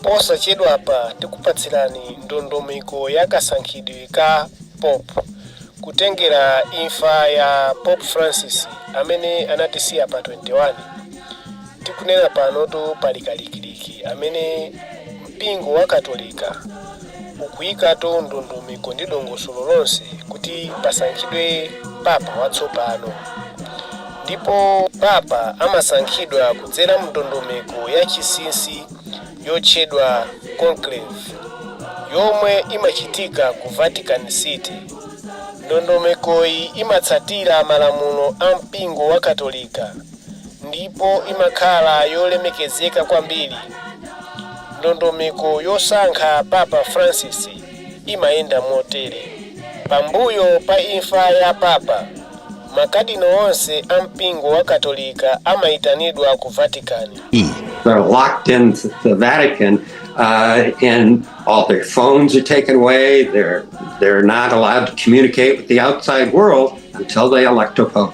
Posachedwapa tikupatsirani ndondomeko ya kasankhidwe ka Pope kutengera imfa ya Pope Francis amene anatisiya pa 21. Tikunena panotu pali kalikiliki amene mpingo wa Katolika ukuyikatu ndondomeko ndi dongosolo lonse kuti pasankhidwe Papa watsopano. Ndipo papa amasankhidwa kudzera mu ndondomeko ya chisinsi yotchedwa conclave, yomwe imachitika ku Vatican City. Ndondomekoyi imatsatira malamulo a mpingo wa Katolika ndipo imakhala yolemekezeka kwambiri. Ndondomeko yosankha Papa Francis. imayenda motere. Pambuyo pa imfa ya papa, makadino onse a mpingo wa Katolika amaitanidwa ku Vatican. They're locked in the Vatican, uh, and all their phones are taken away. They're they're not allowed to communicate with the outside world until they elect a pope.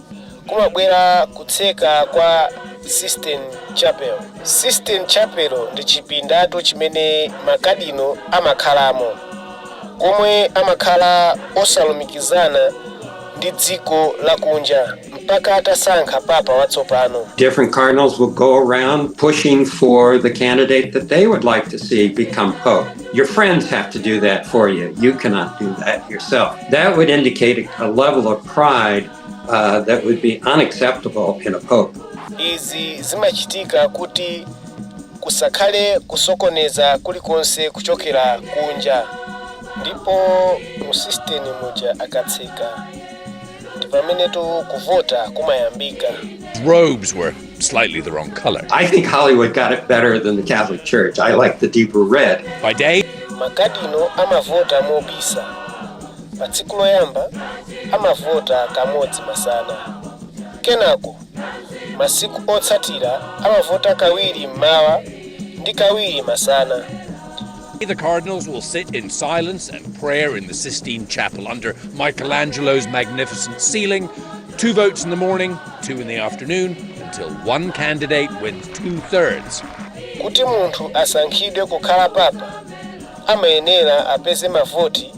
kumabwera kutseka kwa Sistine Chapel. Sistine Chapel ndi chipindatu chimene makadino amakhalamo, komwe amakhala osalumikizana ndi dziko lakunja mpaka atasankha Papa watsopano. Different cardinals will go around pushing for the candidate that they would like to see become pope. Your friends have to do that for you. You cannot do that yourself. That would indicate a level of pride uh, that would be unacceptable in a pope. izi zimachitika kuti kusakhale kusokoneza kulikonse kuchokera kunja ndipo mu Sistine muja akatseka ndi pamenetu kuvota kumayambika robes were slightly the wrong color. I think Hollywood got it better than the Catholic Church. I like the deeper red. By day, makadino amavota mobisa Pa tsiku loyamba amavota kamodzi masana. Kenako masiku otsatira amavota kawiri m'mawa ndi kawiri masana. The cardinals will sit in silence and prayer in the Sistine Chapel under Michelangelo's magnificent ceiling. Two votes in the morning, two in the afternoon, until one candidate wins two thirds. Kuti munthu asankhidwe kukhala papa amayenera apeze mavoti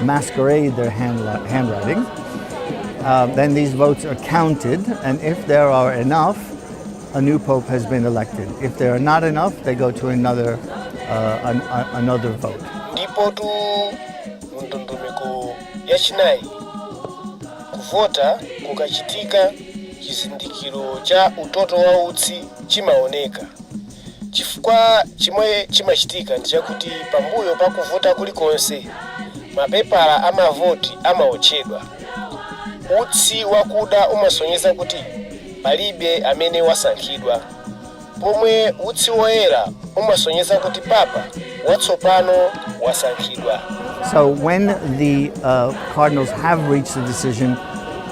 masquerade their hand, handwriting. Uh, then these votes are counted, and if there are enough, a new pope has been elected. If there are not enough, they go to another, uh, an, a, another vote. ndipotu mu ndondomeko yachinayi kuvota kukachitika chizindikiro cha utoto wa utsi chimaoneka Chifukwa chimwe chimachitika ndi chakuti pambuyo pa kuvota kulikonse, mapepala a mavoti amawotchedwa. Utsi wakuda umasonyeza kuti palibe amene wasankhidwa, pomwe utsi woyera umasonyeza kuti papa watsopano wasankhidwa. So when the cardinals have reached the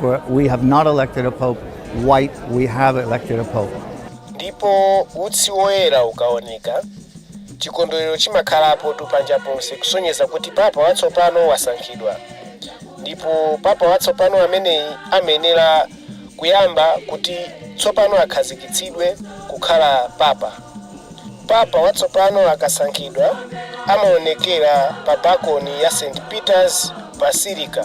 For we have not elected a pope white, we have elected a pope. ndipo utsi woyera ukaoneka chikondwerero chimakhalapo tu panja ponse kusonyeza kuti papa watsopano wasankhidwa ndipo papa watsopano ameneyi amayenera kuyamba kuti tsopano akhazikitsidwe kukhala papa papa watsopano akasankhidwa amaonekera pa balcony ya st peters basilica